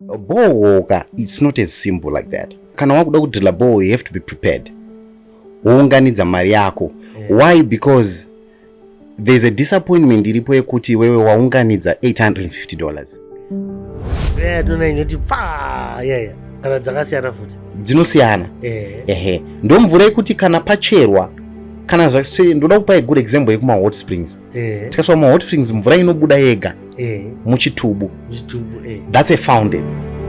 bohoka it's not as simple like that kana wakuda kudrilla boho you have to be prepared wounganidza mari yako why because there's a disappointment iripo yekuti wewe waunganidza 850 dollars kana dzakasiyana futi dzinosiyana eh. ehe ndomvura yekuti kana pacherwa kana zvase ndoda kupa good example yekuma hot springs eh. tikaiswa muhot springs mvura inobuda yega eh. muchitubu eh. thats a fountain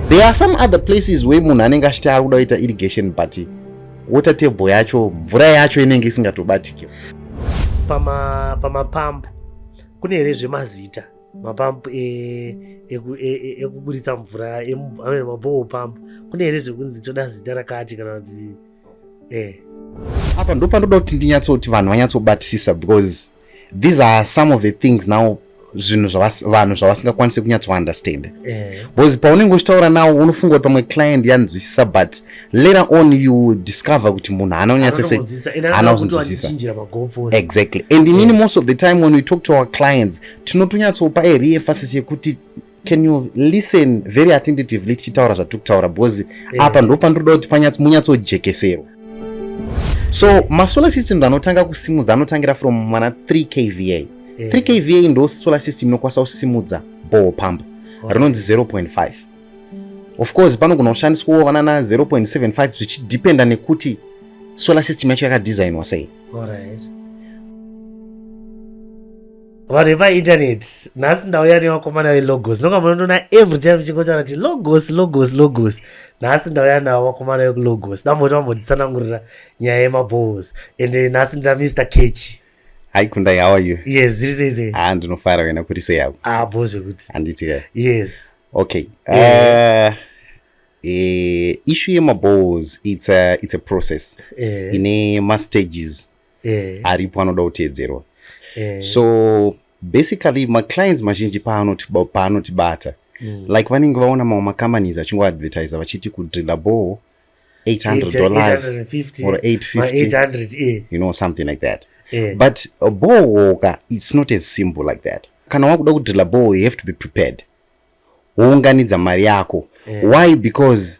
there are some other places where munhu anenge achiti ari kuda kuita irrigation but water table yacho mvura yacho inenge isingatobatike pamapambu kune here zvemazita mapampu e, e, e, ekuburitsa mvura amene mabowo pampu kune here zvekunzi toda zita rakati kana kuti eh. apa ndopanoda kuti ndinyatsoti vanhu vanyatsobatisisa because these are some of the things now zvinhu vanhu zvavasingakwanise kunyatsounderstanda eh. because paunenge uchitaura nawo unofunga kuti pamwe client yanzwisisa but later on you discover kuti munhu haana kunyatsosehaana kuzvinzwisisa exactly and inini eh. most of the time when we talk to our clients tinotonyatsopa erefasis yekuti can you listen very attentively tichitaura zvatiri kutaura because eh. apa ndo pandinoda kuti munyatsojekeserwa so masolar system anotanga kusimudza anotangira from mana 3 kva yeah. 3 kva ndo solar system inokwanisa kusimudza ball pump okay. rinonzi 0.5 of course panogona kushandiswawo vanana 0.75 zvichidependa nekuti solar system yacho yakadesignwa sei right. vanhu vepainternet nhasi ndauya nevakomana velogos ndonga munondoona every time vichingotaura kuti logos logos logos nhasi ndauya navo vakomana vekulogos damboti vamboditsanangurira nyaya yemabows and nhasi ndina mr kechi hi kundai how are you yes zviri sei sei ha ah, ndinofara wena kuri sei yavo ah bo zvekuti handiti ka yes okay uh, uh, issue yemabows it's a, it's a process uh, ine mastages eh. aripo anoda kuteedzerwa eh. so basically maclients mazhinji paanotibata mm. like vanenge vaona mamwe macompanies achingoadvertisa vachiti kudrilla ball 800 dollars or 850 you know something like that yeah. but a ball it's not as simple like that kana wakuda kudrilla ball you have to be prepared wounganidza mari yako yeah. why because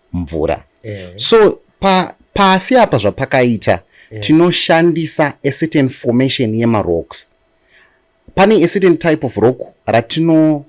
mvura eh. so pa, pasi apa zvapakaita eh. tinoshandisa a certain formation yemarocks pane a certain type of rock ratino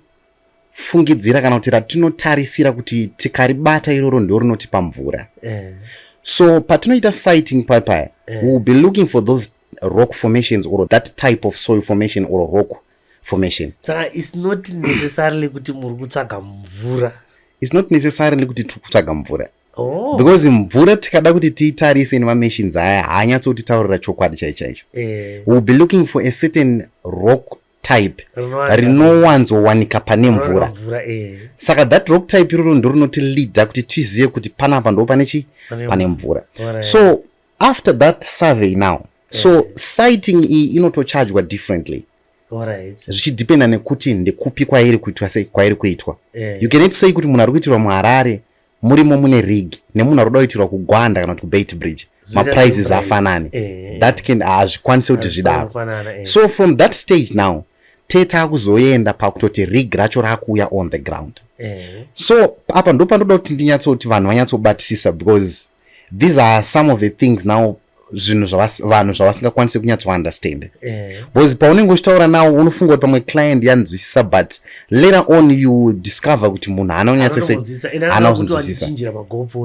fungidzira kana kuti ratinotarisira kuti tikaribata iroro ndo rinotipa mvura eh. so patinoita sighting papaya eh. we will be looking for those rock formations or that type of soil formation or rock formation saka is not necessarily kuti muri kutsvaga mvura is not necessarily kuti tiri kutsvaga mvura Oh. because mvura tikada kuti tiitarise nemamachines aya haanyatsotitaurira chokwadi chai chaicho eh. will be looking for a certain rock type rinowanzowanika pane mvura eh. saka that rock type iroro ndo rinotileada kuti tizive kuti panapa ndo pane chii pane mvura so after that survey now yeah. so eh. sighting iyi inotochajwa differently zvichidependa right. nekuti ndekupi kwairi kuitwa sei kwairi kuitwa yeah. Eh. you can say kuti munhu ari kuitirwa muharare murimo mune rig nemunhu ari kuda kuitirwa kugwanda kana kuti kubait bridge maprizes afanani eh. that can hazvikwanise kuti zvidaro eh. so from that stage now tete akuzoenda pakutoti rig racho rakuuya on the ground eh. so apa ndo pandoda kuti ndinyatso kuti vanhu vanyatsobatisisa because these are some of the things now zvinhu vanhu zvavasingakwanisi kunyatsounderstand eh. because paunenge uchitaura nawo unofunga kuti pamwe client yanzwisisa but later on you discover kuti munhu haana kunyatsoana kunzwisisa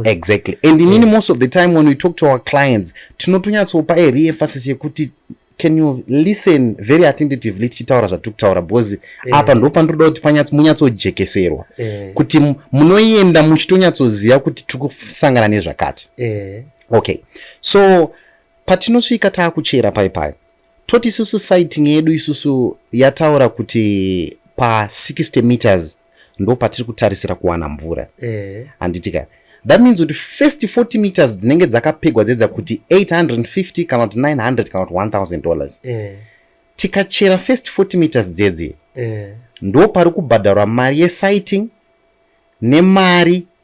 exactly and inini eh. most of the time when we talk to our clients tinotonyatsopa a reemphasis yekuti can you listen very attentively tichitaura zvatiri kutaura because eh. apa ndo pandinoda kuti panyatsomunyatsojekeserwa eh. kuti munoenda muchitonyatsoziva kuti tiri kusangana nezvakati eh. okay so patinosvika taakuchera pai pai toti isusu siting yedu isusu yataura kuti pa 60 meters ndopatiri kutarisira kuwana mvura eh. handitika eh that means kuti first 40 meters dzinenge dzakapegwa dzedza kuti 850 kana kuti 900 kana kuti 1000 dollars eh. tikachera first 40 meters dzedzi eh. ndo pari kubhadharwa mari yesighting nemari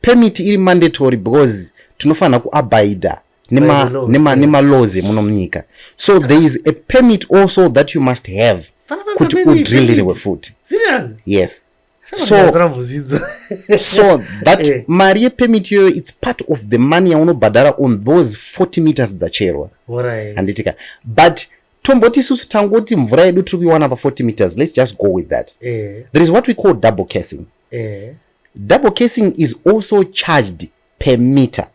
permit iri mandatory because tinofanira kuabaida nemalaws emuno munyika so there is a permit also that you must have kuti udrillirwe futi yes so, so that eh. mari yepemit iyoyo its part of the money yaunobhadhara on those 40 meters dzacherwa handitika but tomboti isusu tangoti mvura yedu tiri kuiwana pa 40 meters let's just go with that eh. there is what we call double casing eh. double casing is also charged per meter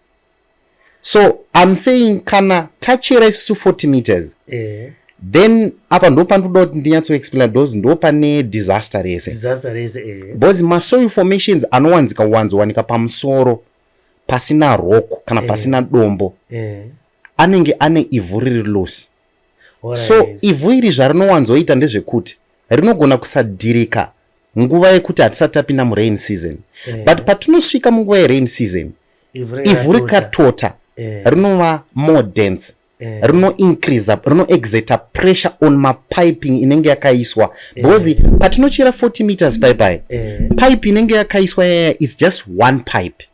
so im saying kana tachera isusu 40 meters eh. then apa ndo pandoda kuti ndinyatsoexplaina bcause ndo pane disaster rese eh. bcause masoil formations anowanzika wanzowanika pamusoro pasina roko kana eh. pasina dombo eh. anenge ane ivhu riri loose so ivhu iri zvarinowanzoita ndezvekuti rinogona kusadhirika nguva yekuti hatisati tapinda murain season yeah. but patinosvika munguva yerain season ivhu rikatota yeah. rinova more dense yeah. rino increase up rino exerta pressure on mapiping inenge yakaiswa because yeah. patinochera 40 meters pipe yeah. pipe inenge yakaiswa yaya is just one pipe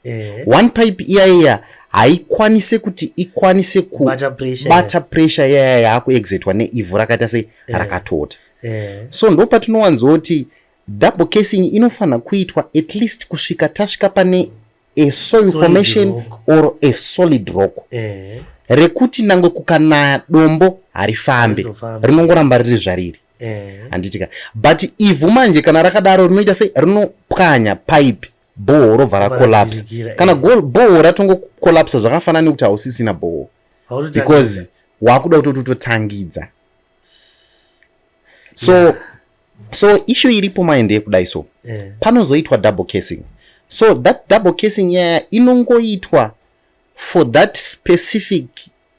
eh. one pipe iya iya haikwanise kuti ikwanise kubata pressure yaya yaakuexitwa neivhu rakaita sei eh. rakatota eh. so ndo patinowanzoti double casing inofanira kuitwa at least kusvika tasvika pane a soil formation or a solid rock eh. rekuti nangwe kukanaya dombo harifambe rinongoramba riri zvariri handitika but ivhu manje kana rakadaro rinoita sei rinopwanya pipe bhoho robva racollapse kana eh. bhoho ratongocollapsa zvakafanana nekuti hausisina bhoho because wakuda kutoti utotangidza so yeah. so ishu iripo maende yekudai so yeah. panozoitwa double casing so that double casing yaya inongoitwa for that specific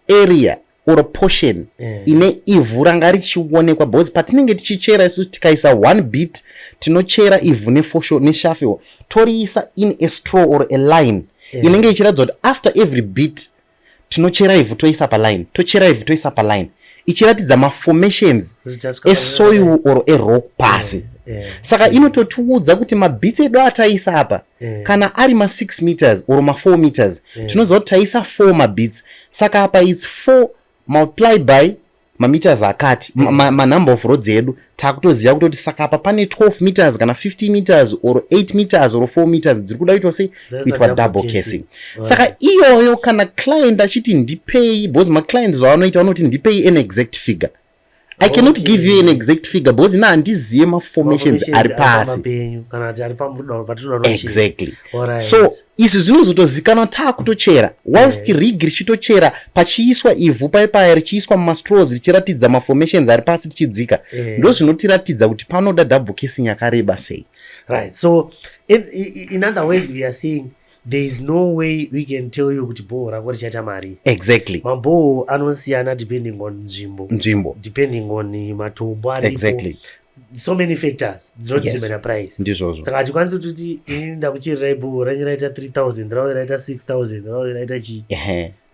area or portion eh. ine ivhu ranga richionekwa because patinenge tichichera isu tikaisa one bit tinochera ivhu nefosho neshafe toriisa in a straw or a line eh. inenge ichiratidza kuti after every bit tinochera ivhu toisa paline tochera ivhu toisa paline ichiratidza maformations esoil or erock pasi eh, saka inototiudza kuti mabits edu ataisa apa mm. kana ari ma 6 meters or ma 4 meters mm. tinoziva kuti taisa 4 mabits saka apa its 4 multiply by mameters akati mm. manumber of roads edu takutoziva kutoti saka apa pane 12 meters kana 50 meters or 8 meters or 4 meters dziri kuda kuitwa sei kuitwa double casing saka iyoyo kana client achiti ndipei because maclients vavanoita vanoti ndipei an exact figure i cannot give you an exact figure because ina handizive maformations ari pasi exactly so izvi zvinozotozikanwa taa kutochera whilst eh. rig richitochera pachiiswa ivhu paye paya richiiswa mumastrows richiratidza maformations ari pasi tichidzika eh. ndo zvinotiratidza kuti panoda double casing yakareba sei right so in, in other ways we are seeing there is no way we can tell you kuti bhoho rako richaita mari exactly mabhoho anosiyana depending on nzvimbo nzvimbo depending on matombo aripo exactly so many factors dzinotisemena yes. price ndizvozvo saka hatikwanisi kutoti ini ndakuchirirai bhoho ranyu raita 3000 ravo raita 6000 ravo raita chii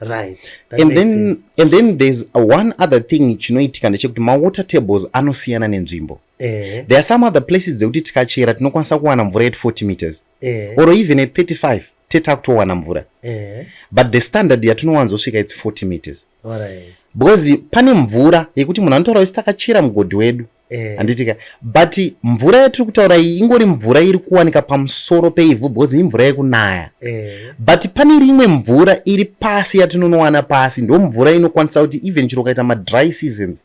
right that and then sense. and then there's one other thing chinoitika ndechekuti mawater tables anosiyana nenzvimbo eh. there are some other places dzekuti tikachera tinokwanisa kuwana mvura at 40 meters eh. or even at 35 teta kutowana mvura eh. but the standard yatinowanzosvika its 40 meters right. because pane mvura yekuti munhu anotaura isi takachera mugodhi wedu eh. handitika but mvura yatiri kutaura iyi ingori mvura iri kuwanika pamusoro peivhu because imvura yekunaya eh. but pane rimwe mvura iri pasi yatinonowana pasi ndo mvura inokwanisa kuti even chiro ukaita madry seasons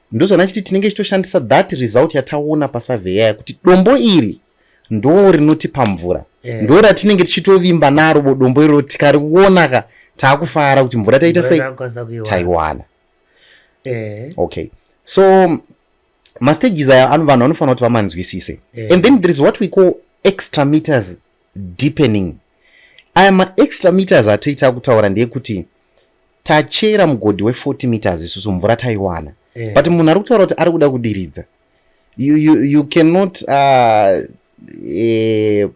ndozvanachiti tinenge chitoshandisa that result yataona pasurveya yakuti dombo iri ndo rinotipa mvura yeah. ndo ratinenge tichitovimba naro bo dombo iroro tikarionaka taakufara kuti mvura taita sei taiwana yeah. okay so mastages aya vanhu vanofanira kuti vamanzwisise yeah. and then there is what we call extra meters deepening aya maextra meters atoita kutaura ndeyekuti tachera mugodhi we 40 meters isusu mvura taiwana yeah. but munhu ari kutaura kuti ari kuda kudiridza you, you, you cannot uh, eh,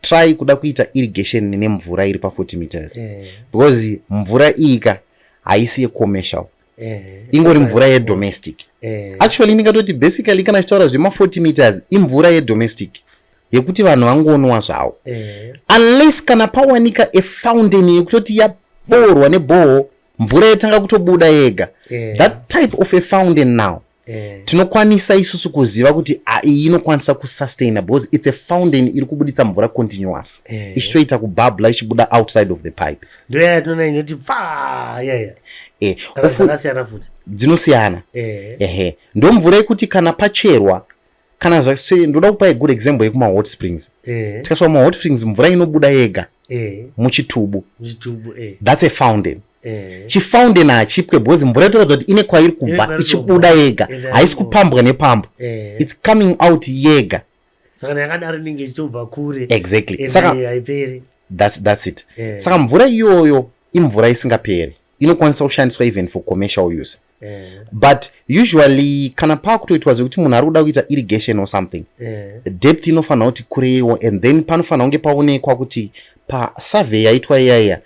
try kuda kuita irrigation nemvura iri pa 40 meters yeah. because mvura iyika haisi yecommercial yeah. ingori mvura yedomestic yeah. actually ndingatoti basically kana chitaura zvema 40 meters imvura yedomestic yeah. yekuti vanhu vangonwa zvawo eh. unless kana pawanika a fountain yekutoti yaboorwa neboho mvura yatanga kutobuda yega eh. that type of a fountain now eh. tinokwanisa isusu kuziva kuti iyi inokwanisa kusustaina because its a fountain iri kubuditsa mvura continuous eh. ichitoita kubabla ichibuda outside of the pipe ndoyatinoona inoti paa yaya eh, dzinosiyana eh. ehe ndomvura yekuti kana pacherwa kana zvase ndoda kupai good example yekuma hot springs eh. tikasvika kuma hot springs mvura inobuda yega eh. muchitubu eh. thats a fountain eh. chifountain hachipwe because mvura itoratidza kuti ine kwairi kubva ichibuda yega eh, haisi kupambwa nepambo eh. its coming out yega saka yakadaro inenge ichitobva kure exactly eh, saka haiperi that's, that's it eh. saka mvura iyoyo imvura isingaperi inokwanisa kushandiswa even for commercial use eh. eh. but usually kana paakutoitwa zvekuti munhu ari kuda kuita irrigation or something eh. depth inofanira kuti kureiwo and then panofanira kunge paonekwa kuti pasurvey yaitwa iya iya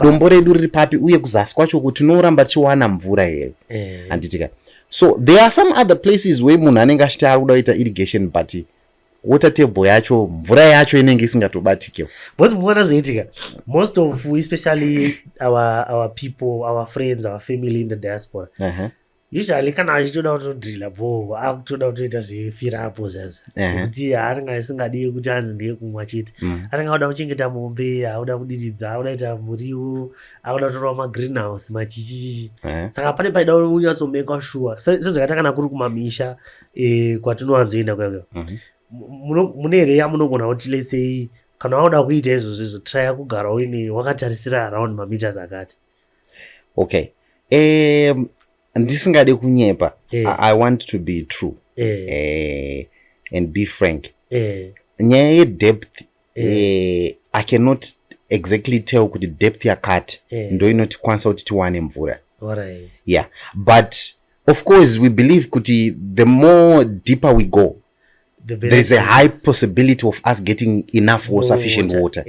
dombo redu riri papi uye kuzasi kwacho kuti tinoramba tichiwana mvura here eh. handitika so there are some other places where munhu anenge achiti ari kuda kuita irrigation but water table yacho mvura yacho inenge isingatobatike bcause mukuona zvinoitika most of especially our, our people our friends our family in the diaspora uh -huh. usually kana achitoda kutodrila bho akutoda kutoita zvefirapo zvazo kuti anenge asingadi kuti anzi ndiye kumwa chete mm. anenge akuda kuchengeta mombe akuda kudiridza akuda kuita muriwo akuda kutorwa magreen house machichichichi saka pane paida unyatsomekwa shuwa sezvakaita kana kuri kumamisha e, kwatinowanzoenda kuya kuya mm -hmm. mune here yamunogona kuti lesei kana waoda kuita izvozvo izvo traya kugara uine wakatarisira around mameters akati okay um, ndisingade kunyepa eh. I, i want to be true eh. Eh, and be frank eh. nyaya yedepth eh, i cannot exactly tell kuti depth yakati eh. ndo inotikwanisa kuti tiwane mvura right. yeah but of course we believe kuti the more deeper we go the there is a high possibility of us getting enough or sufficient water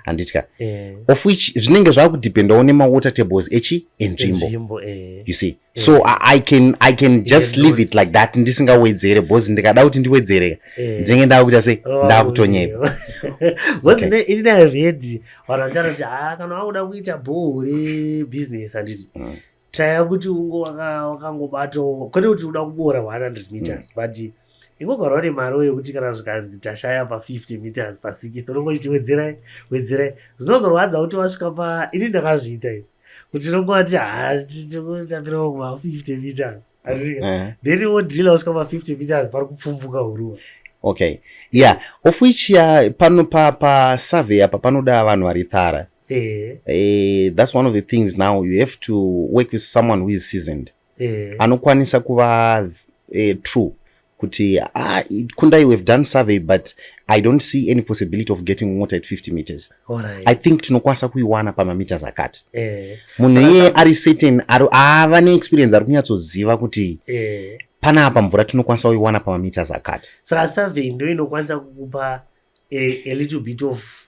handiti eh. ka eh. of which zvinenge zvava kudependawo nemawater tables echi enzvimbo eh. you see so eh. I, I can i can eh, just leave it like that ndisingawedzere bcause ndikada kuti ndiwedzere eh. ndinenge ndava kuita sei oh, ndava kutonyepa bcause ne ini i read vanhu vanditaura kuti haa ah, kana wakuda kuita bhoo rebusiness handiti mm. taya kuti ungo wakangobatawo kwete kuti uda kuboora 100 meters mm. but ingogarwa nemari yekuti kana zvikanzi tashaya pa50 meters pa60 unongo chiti wedzerai wedzerai zvinozorwadza kuti wasvika pa ini ndakazviita i kuti nongoti hatitapira kuma 50 meters eh. then wodhila wasvika pa50 meters pari kupfumvuka huruwa okay ya yeah. of which ya pano pasurvey apa panoda vanhu vari thara eh. eh, that's one of the things now you have to work with someone who is seasoned mm. eh. anokwanisa kuva eh, true kuti ah, kundai we've done survey but i don't see any possibility of getting mota at 50 meters right. i think tinokwanisa kuiwana pamameters akati eh. munhu iye ari certain ava neexperience ari kunyatsoziva kuti eh. pana apa mvura tinokwanisa kuiwana pamameters akati saka survey ndo inokwanisa kukupa a, a little bit of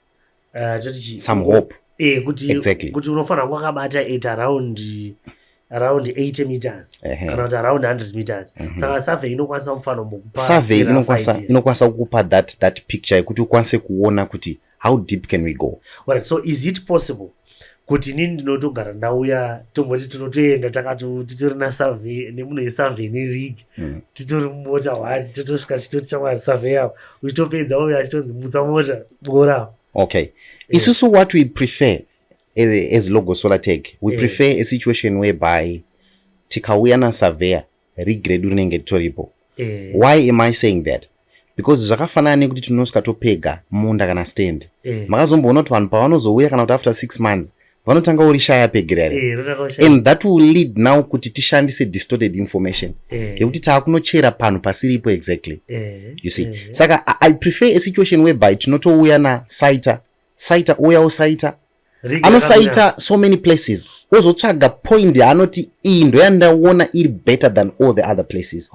uh, toti chii some hope eh kuti exactly. kuti unofanira kwakabata at around around 80 meters uh -huh. kana kuti around 100 meters mm -hmm. saka survey inokwanisa mufano mukupa survey inokwanisa inokwanisa kukupa that that picture yekuti ukwanise kuona kuti how deep can we go right so is it possible kuti inini ndinotogara ndauya tomboti tinotoenda takati titori nasurvey nemunhu yesurvey neleague mm. titori mumota one totosvika chitoti chamwari survey yavo uchitopedza uyo achitonzi mutsa mota bora okay eh. isusu yeah. what we prefer as logo solar tag we yeah. prefer a situation whereby tikauya nasurveyor regredu rinenge ritoripo eh. why am i saying that because zvakafanana nekuti tinosvika topega munda kana stand eh. makazomboona kuti vanhu pavanozouya kana kuti after six months vanotanga uri shaya pegera here eh, and that will lead now kuti tishandise distorted information eh. yekuti eh. taakunochera panhu pasiripo exactly eh. you see eh. saka i prefer a situation whereby tinotouya nasaita saita ouya osaita anosaita so many places ozotsvaga point yaanoti iyi ndoyandaona iri better than all the other places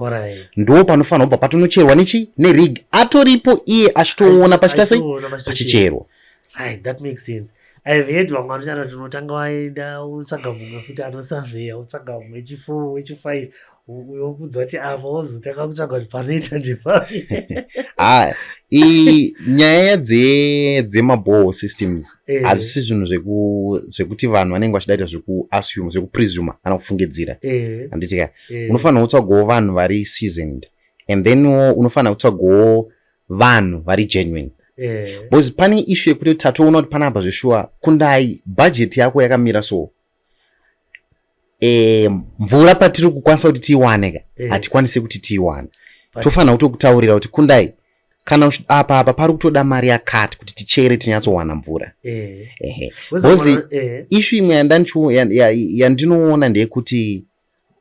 ndo panofanira kubva patonocherwa nechi nerig atoripo iye achitoona pachita sei pachicherwa aive hedu vamwe vanotaura tinotanga waenda utsvaga mumwe futi anosaveya utsvaga mumwe wechifour wechifive uyokuudza kuti apa wozotanga kutsvaga kuti panoita ndepapi ha nyaya dzemaboho systems eh. hazvisi zvinhu zvekuti vanhu vanenge vachidaita zvekuassume zvekupresuma kana kufungidzira eh. handiti ka eh. unofanira kutsvagawo vanhu vari seasoned and then unofanira kutsvagawo vanhu vari genuine because pane ishu yekuti tatoona kuti panapa zveshuwa kundai bhajeti yako yakamira so e, mvura patiri kukwanisa kuti tiiwane ka eh. hatikwanise kuti tiiwane tofanira kutokutaurira kuti kundai kana apa apa pari kutoda mari yakati kuti tichere tinyatsowana mvura eh. ehe bhozi eh. ishu imwe yandinoona ndeyekuti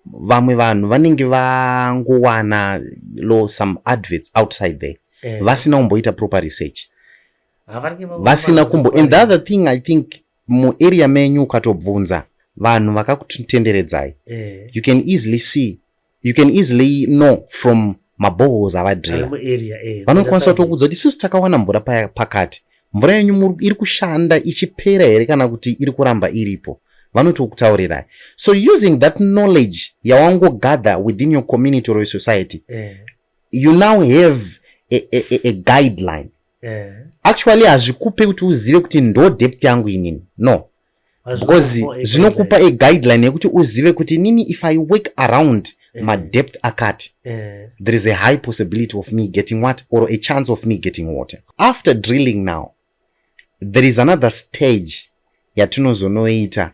vamwe vanhu vanenge vangowana lo some adverts outside there eh. vasina kumboita proper research vasina kumbo and the other thing i think mu area menyu ukatobvunza vanhu vakakutenderedzai eh. you can easily see you can easily know from mabohos avadrila eh, vanokwanisa kutokudza kuti isusu takawana mvura pakati mvura yenyu iri kushanda ichipera here kana kuti iri kuramba iripo vanotokutaurirai so using that knowledge yawangogather within your community or your society eh. you now have a, a, a, a guideline eh. actually hazvikupe kuti uzive kuti ndo dept yangu inini no because zvinokupa a guideline yekuti uzive kuti nini if i work around eh. madept akati eh. there is a high possibility of me getting what or a chance of me getting water after drilling now there is another stage yatinozonoita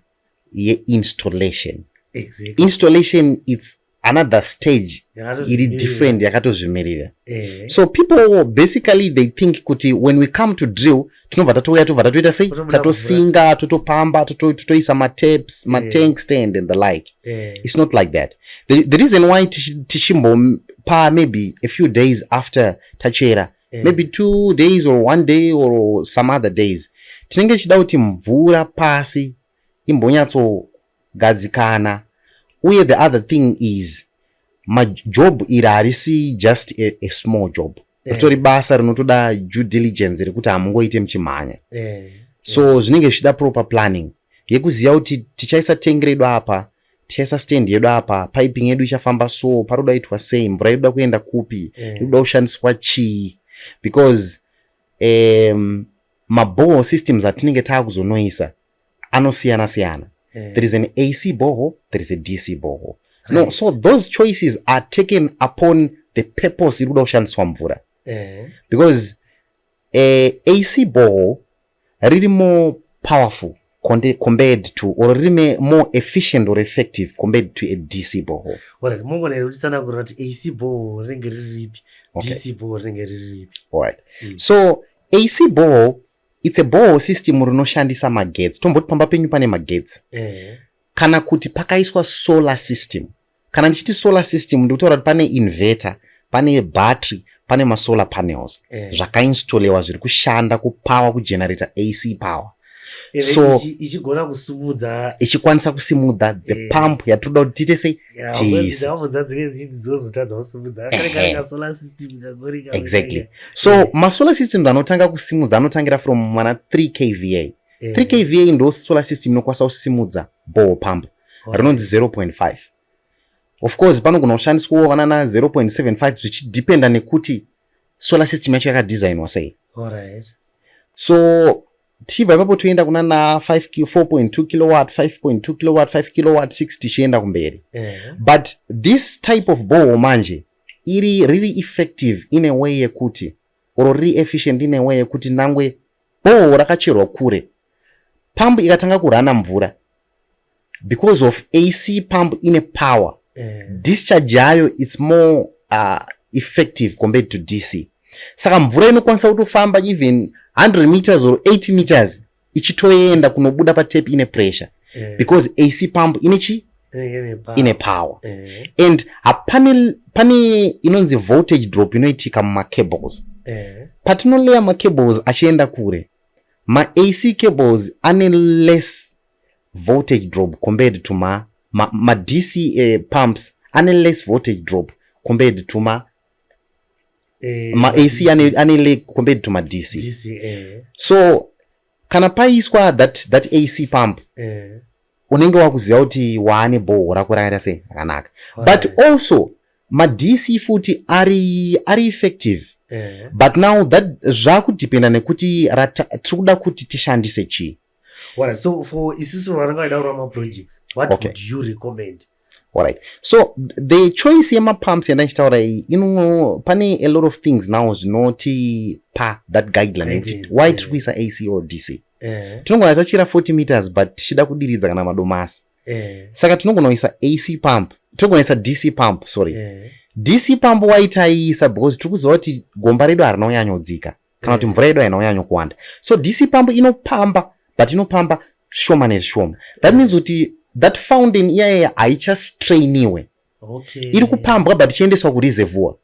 yeinstallation exactly. installation its another stage iri different yakatozvimirira eh. so people basically they think kuti when we come to drill tinobva tatouya tobva tatoita sei tatosinga totopamba totoisa mataps eh. matank stand and the like eh. it's not like that the, the reason why tichimbopa maybe a few days after tachera Eh. maybe two days or one day or some other days tinenge tichida kuti mvura pasi imbonyatsogadzikana uye the other thing is majob iri harisi just a, a small job eh. ritori basa rinotoda due diligence rekuti hamungoite muchimhanya eh. so zvinenge zvichida proper planning yekuziva kuti tichaisa tengi redu apa tesa stand yedu apa piping yedu ichafamba so paroda itwa sei mvura yeduda kuenda kupi eh. ikuda yeah. kushandiswa chii because um, maboho systems atinenge taakuzonoisa anosiyana siyana yeah. there is an ac boho there is a dc boho right. no so those choices are taken upon the purpose iri kuda kushandiswa mvura yeah. because uh, eh, ac boho riri more powerful compared to or rine more efficient or effective compared to a dc boho orit mongona iri kutitsanagurira kuti ac boho rinenge riri ripi dc boho rinenge riri ripi orit mm. so ac boho its a boho system rinoshandisa magetsi tomboti pamba penyu pane magetsi eh. kana kuti pakaiswa solar system Kana ndichiti solar system ndikutaura kuti pane inverter, pane battery, pane masolar panels eh. zvakainstolewa zviri kushanda kupower kugenerator AC power so ichigona kusumudza ichikwanisa kusimudza the eh. pump yatinoda kuti tiite sei tiiseexactly so eh. masolar system anotanga kusimudza anotangira from mana 3 kva 3 eh. kva ndo solar system inokwanisa kusimudza ball pump rinonzi 0.5 of course panogona kushandiswawo vana na 0.75 zvichidependa nekuti solar system yacho yakadesignwa sei so tichibva ipapo toenda kuna na 4.2 kilowatt 5.2 kilowatt 5 kilowatt 6 tichienda kumberi yeah. but this type of boho manje iri riri effective in a way yekuti or riri efficient in a way yekuti nangwe boho rakacherwa kure pambu ikatanga kurana mvura because of ac pump ine power eh. discharge yayo its more uh, effective compared to dc saka mvura inokwanisa kutofamba even 100 meters or 80 meters ichitoenda kunobuda patap ine pressure eh. because ac pump ine chi eh, ine power and hapane pane inonzi voltage drop inoitika mumacables patinoleya macables achienda kure Ma AC cables ane less voltage drop compared to ma, ma, ma DC uh, eh, pumps ane less voltage drop compared to ma eh, ma AC ane, ane le compared to ma DC, DC eh. so kana paiswa that, that AC pump eh. unenge wakuziva kuti waane bhoho rako rakaita sei rakanaka but also madc futi ari ari effective yeah. but now that zvakudependa nekuti tiri kuda kuti tishandise chii right, so for isusu vanenge vaida kurama projects what okay. would you recommend Alright. So the choice yema pumps yanda ndichitaura iyi ino pane a lot of things now zvinoti pa that guideline yekuti why tiri kuisa AC or DC. Eh. Tinongona tachira 40 meters but tichida kudiridza kana madomasi. eh. saka tinogona kuisa ac pump tinogona kuisa dc pump sorry eh. dc pump waitaiisa because tiri kuziva kuti gomba redu harina kunyanyodzika kana kuti eh. mvura yedu haina kunyanyo kuwanda so dc pump inopamba but inopamba shoma nezvishoma that means kuti that fountain iyayeya haichastrainiwe okay. iri kupambwa but ichiendeswa kureservoir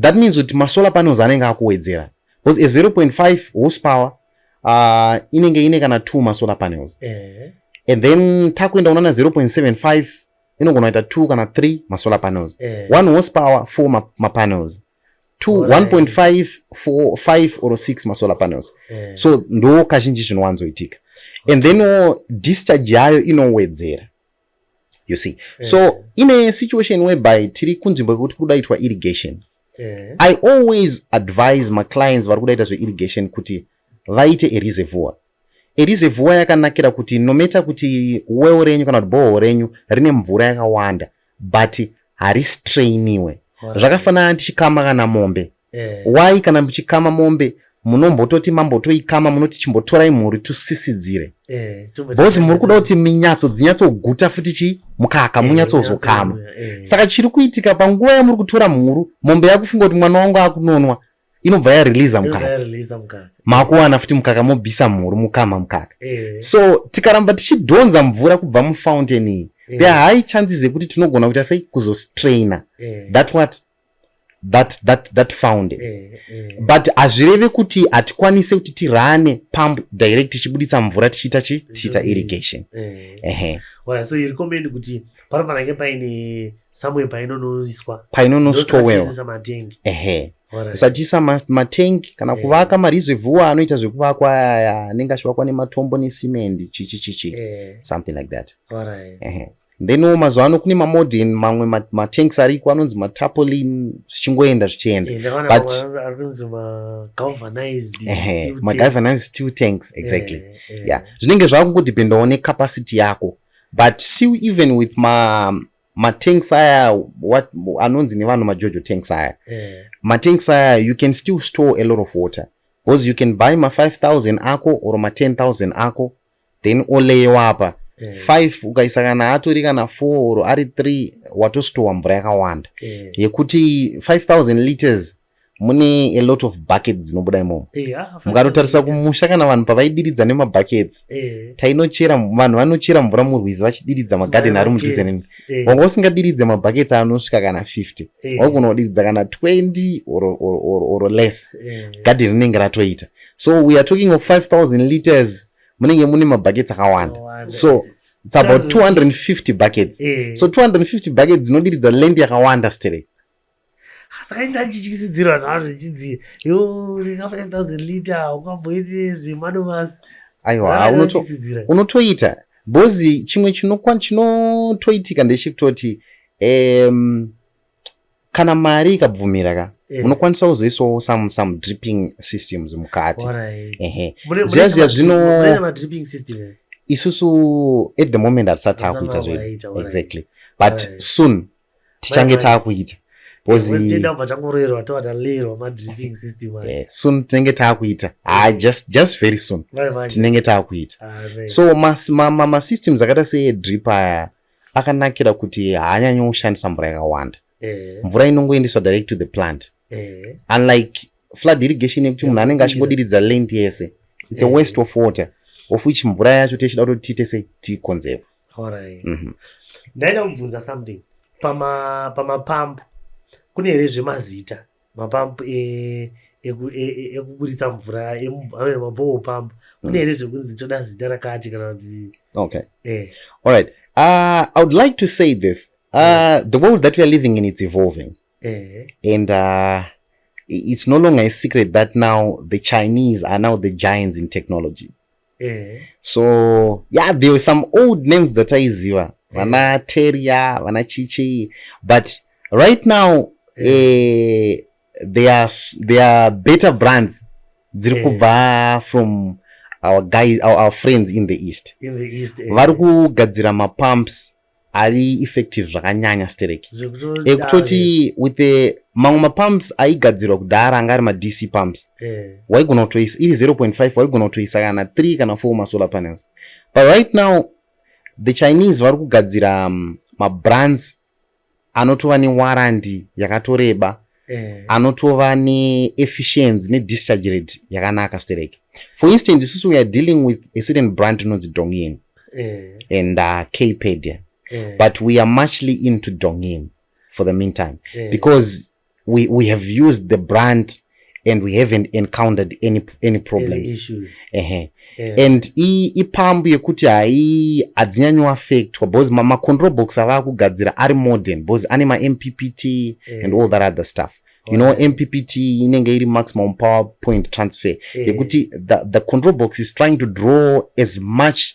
That means kuti masolar panels anenge akuwedzera because a 0.5 horsepower uh, inenge ine kana two masolar panels eh. and then takuenda kunana 0.75 inogona kuita two kana three masolar panels eh. one horsepower four ma mapanels two 1.5 four five or six masolar panels eh. so ndo kazhinji zvinowanzoitika and then discharge yayo inowedzera you see yeah. so in a situation whereby tiri kunzvimbo yekuti kuri kudaitwa irrigation yeah. i always advise maclients vari kudaita zveirrigation kuti vaite ereservoir ereservoir yakanakira kuti nometa kuti well renyu kana kuti boho renyu rine mvura yakawanda but haristrainiwe zvakafanana tichikama kana mombe Eh. Why kana muchikama mombe munombototi mambotoikama munoti chimbotorai mhuri tusisidzire eh, bhozi muri kuda kuti minyatso dzinyatsoguta futi chi mukaka eh, munyatsozokama eh. saka chiri kuitika panguva yamuri kutora mhuru mombe yakufunga kuti mwana wangu akunonwa inobva yareleasa mukaka makuwana futi mukaka mobvisa mhuru mukama mukaka eh. so tikaramba tichidhonza mvura kubva mufountain iyi eh. there high chances yekuti tinogona kuita sei kuzostraina eh. that what that, that, that found eh, eh. but hazvireve kuti hatikwanise kuti tirane pump direct tichibuditsa mvura tichiita chi tichiita irrigation eh. ehe right, so iri kombendi kuti panofanake paine somewhere painonoiswa painonostowewa matengi ehe usatisa matank kana eh. kuvaka mareservoir anoita zvekuvakwa aya anenge achivakwa nematombo nesimendi chichi chichi eh. something like that then wo mazuva ano kune mamodern mamwe matanks ma ariko anonzi matapolin zvichingoenda zvichienda butmagalvanized steel tanks exactly yeah, yeah. yeah. zvinenge zvakungodhipendawo necapacity yako but still even with ma matanks aya anonzi nevanhu majojo tanks aya yeah. matanks aya you can still store a lot of water because you can buy ma 5000 ako or ma 10000 ako then oleyewa apa eh. five ukaisa kana atori kana four or ari three watostowa mvura yakawanda eh. yekuti five thousand liters mune a lot of buckets dzinobuda imomo eh, ah, mukatotarisa kumusha kana vanhu pavaidiridza nemabuckets eh. tainochera vanhu vanochera mvura murwizi vachidiridza magarden ari mudhuze neni eh. wanga usingadiridze mabuckets anosvika kana 50 waigona kudiridza kana 20 or less garden rinenge ratoita so we are talking of 5000 liters munenge mune mabuckets akawanda so it's about 250 buckets eh. so 250 buckets dzinodiridza land yakawanda sterek saka inda ndichityisidzirwa navo zvichinzi yo ringa 5000 liter ungamboiti zvemadomasi aiwa unotoita bhozi chimwe chinotoitika ndechekutoti um, kana mari ikabvumira ka eh. unokwanisa kuzoisawo some some dripping systems mukati ehe zviya zviya zvino eh? isusu at the moment hatisati taakuita zvedu exactly but soon tichange taakuita soon tinenge taakuita ha eh. just just very soon tinenge taakuita ah, so masystems akaita seedrip aya akanakira kuti haanyanyi kushandisa mvura yakawanda eh. mvura inongoendeswa direct to the plant eh. unlike flood irrigation yekuti munhu anenge achingodiridza land yese its a eh. waste of water of which mvura yacho tichida kuti tiite sei tiikonzeva mhm. ndaida kubvunza something pamapamp kune here zvemazita mapamp ekuburitsa mvura amene maboho pamp kune here zvekunzi toda zita rakati kana kuti okay eh. all right uh, i would like to say this uh, yeah. the world that weare living in it's evolving eh. and uh, it's no longer a secret that now the chinese are now the giants in technology eh. so yeah there were some old names dzataiziva eh. vana teria vana chichii but right now eh. eh, they, are, they are better brands dziri eh. kubva from our guys our, our friends in the east, in the east eh. vari kugadzira mapumps ari effective zvakanyanya sterek ekutoti with the mamwe mapumps aigadzirwa kudhara anga ari madc pumps eh. waigona kutoisa iri 0.5 waigona kutoisa kana 3 kana 4 masolar panels but right now the chinese vari kugadzira um, mabrands anotova newarandi yakatoreba eh. anotova neefficiency nedischarge rate yakanaka stereke for instance isusu weare dealing with a certain brand inonzi dongin eh. and uh, kpedia eh. but we are muchly into dongin for the meantime eh. because we, we have used the brand and we haven't encountered any, any problems ehe yeah. and ipambu yekuti hai hadzinyanyowafectwa because macontrol box avaa kugadzira ari modern because ane mampt yeah. and all that other stuff you know right. mppt inenge iri maximum power point transfer yekuti yeah. the, the control box is trying to draw as much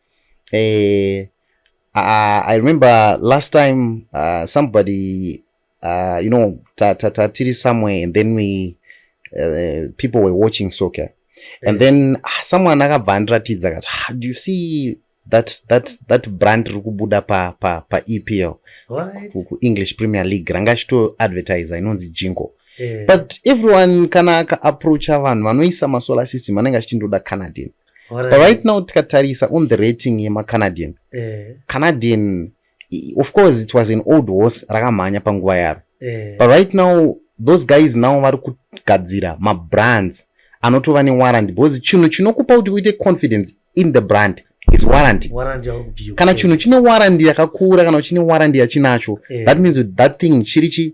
uh, uh, i remember last time uh, somebody uh, you know ta, ta, ta, tiri somewhere and then we uh, people were watching soccer and then ah, someone akabva andiratidza kati ah, do you see that, that, that brand riri kubuda pa, pa, pa epl right. kuenglish premier league ranga chito advertiser inonzi jingo yeah. but everyone kana akaapproacha vanhu vanoisa masolar system anenge achiti ndoda canadin But right now tikatarisa on the rating yemacanadian eh. canadian of course it was an old horse rakamhanya panguva yaro eh. but right now those guys now vari kugadzira mabrands anotova newarranty because chinhu chinokupa kuti uite confidence in the brand is warranty kana chinhu chine warranty yakakura kana chine warranty yachinacho eh. that means that thing chiri chi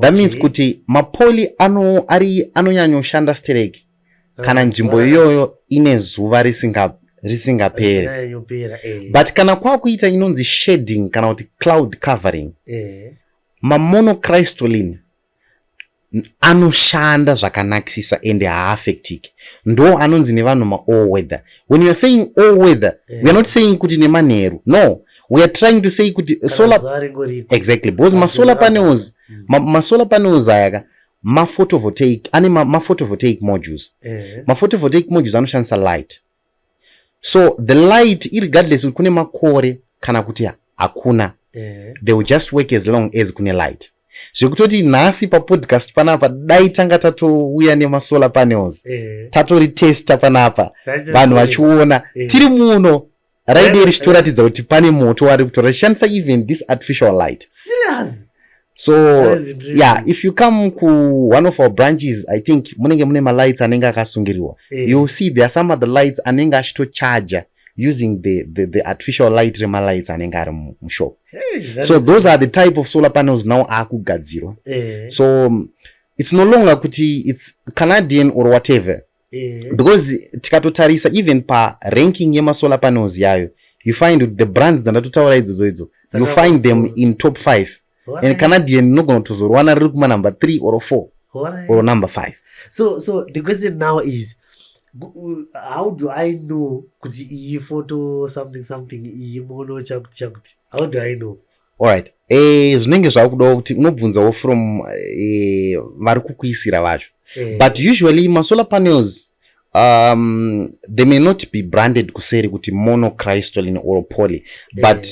That okay. means kuti mapoli ano ari anonyanyoshanda sterek kana nzvimbo iyoyo ine zuva risinga risingapere eh. but kana kwakuita inonzi shading kana kuti cloud covering eh. mamonocrystolin anoshanda zvakanakisisa ende haaffectiki ndo anonzi nevanhu maall weather when youare saying all weather yeah. weare not saying kuti nemanheru no we are trying to say kuti solar exactly because masolar panels mm. masolar panels aya ka maphotovoltaic ane maphotovoltaic modules eh. maphotovoltaic modules anoshandisa light so the light irregardless kuti kune makore kana kuti hakuna eh. they will just work as long as kune light zvekutoti nhasi papodcast panapa dai tanga tatouya nemasolar panels eh. tatoritesta panapa vanhu vachiona tiri muno raidi richitoratidza kuti pane moto wari kutora shandisa even this artificial light serious so yeah if you come ku one of our branches i think munenge mune malights anenge akasungiriwa yeah. you see there are some other lights anenge achitocharger using the, the, the artificial light remalights anenge ari mushop hey, so those are the type of solar panels now akugadzirwa yeah. so it's no longer kuti it's canadian or whatever eh. because tikatotarisa even paranking yemasolar panels yayo you find kuti the brands dzandatotaura idzodzo idzo you find them in top five and canadian unogona kutozorwana riri kuma number three or four or number five so so the question now is how do i know kuti iyi photo something something iyi mono chakuti chakuti how do i know Alright. Eh, zvinenge zvakudawo kuti unobvunzawo from eh, vari kukuisira vacho. Eh. But usually masolar panels um, they may not be branded kuseri kuti monocrystalline or poly eh. but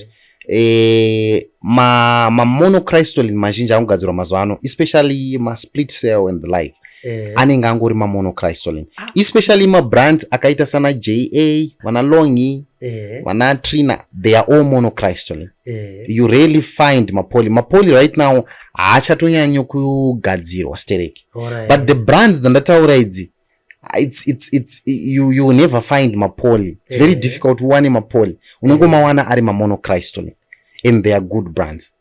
eh, ma, ma monocrystalline mazhinji anogadzirwa mazuva ano especially ma split cell and the like eh. anenge angori mamonocrystalline ah. especially mabrand akaita sana ja vana longi eh. vana trina they are all monocrystalline Eh. you really find mapoli mapoli right now haachatonyanyo kugadzirwa stereki right. but the brands dzandataura idzi it's, it's, it's, you, you never find mapoli it's eh. very difficult uwane mapoli unongomawana ari mamonocrystolin and they are good brands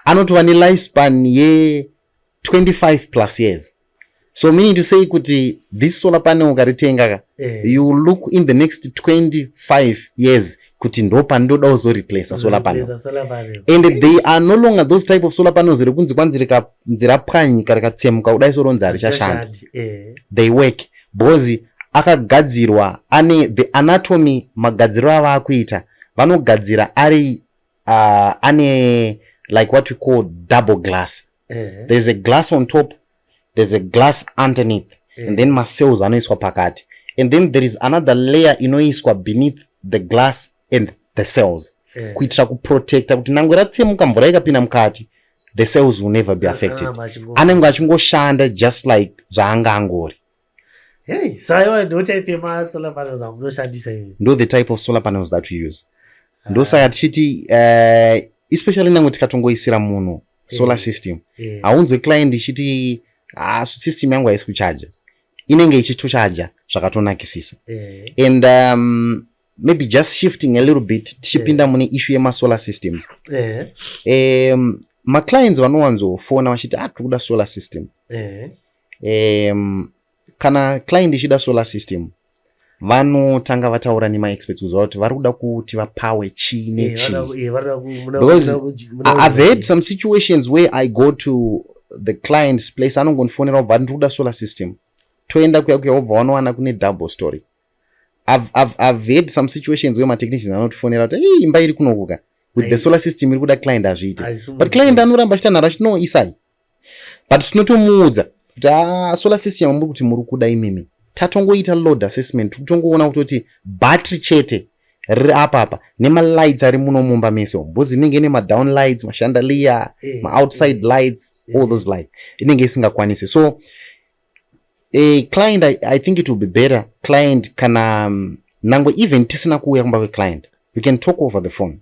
anotova nelifespan ye 25 plus years so meaning to say kuti this solar panel ukaritenga ka eh. you look in the next 25 years kuti ndo pandoda uzoreplace solar panel and they are no longer those type of solar panels rekunzi kwanzi rikanzira pwanyika rikatsemuka kudai soronzi harichashanda eh. they work bhozi akagadzirwa ane the anatomy magadziro avaakuita vanogadzira ari uh, ane like what we call double glass uh eh. -huh. there's a glass on top there's a glass underneath uh eh. -huh. and then macells anoiswa pakati and then there is another layer inoiswa beneath the glass and the cells uh eh. -huh. kuitira kuprotecta kuti nangwe ratsemuka mvura ikapinda mukati the cells will never be ah, affected ah, anenge achingoshanda just like zvaanga angori Hey, so I want no type of uh, solar panels I'm not sure this even. Know the type of solar panels that we use. Uh, Ndo saka tichiti uh, especially nangu tikatongoisira munhu solar system. Yeah. Haunzwe client ichiti ah, system yangu haisi kucharger. Inenge ichitucharger zvakatonakisisa. Yeah. And um, maybe just shifting a little bit tichipinda yeah. mune issue yemasolar systems. Yeah. Um, maclients vanowanzofona vachiti ah, tiri kuda solar system. Yeah. um, kana client ichida solar system vanotanga vataura nemaexperts kuziva kuti vari kuda kuti vapawe chii nechiibecause i've had some situations where i go to the client's place anongondifonera obva ndiri kuda solar system toenda kuya kuya wobva wanowana kune double story i've had some situations where matechnicians anotifonera kuti hey, imba iri kunokuka with the solar system iri kuda client hazviite but client anoramba achita nharo achiti no isai but tinotomuudza kuti ah, solar system yamuri kuti muri kuda imimi tatongoita load assessment tikutongoona kutoti battery chete riri apapa nemalights ari muno mumba mese umu bhozi inenge ine madown lights mashandaliya eh, maoutside eh, lights eh. all those lights inenge isingakwanisi so a client I, i think it will be better client kana um, nangwe even tisina kuuya kumba kweclient you can talk over the phone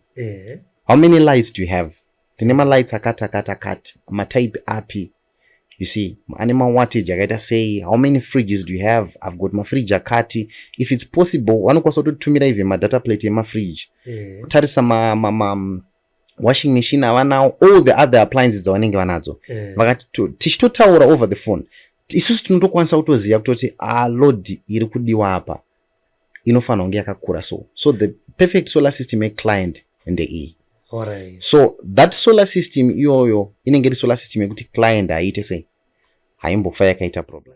how many lights do you have tine malights akati akati akati matype api you see ane mawattage akaita sei how many fridges do you have i've got mafridge akati if it's possible vanokwanisa kutotumira even madata plate emafridge eh. kutarisa ma, ma, ma, ma washing machine avanawo all the other appliances dzavanenge vanadzo eh. vakati tichitotaura over the phone isusu tinotokwanisa kutoziva kutoti alodi ah, iri kudiwa apa inofanirwa kunge yakakura so so the perfect solar system yeclient ndeiyi right. so that solar system iyoyo inenge iri solar system yekuti client haiite sei haimbofa yakaita problem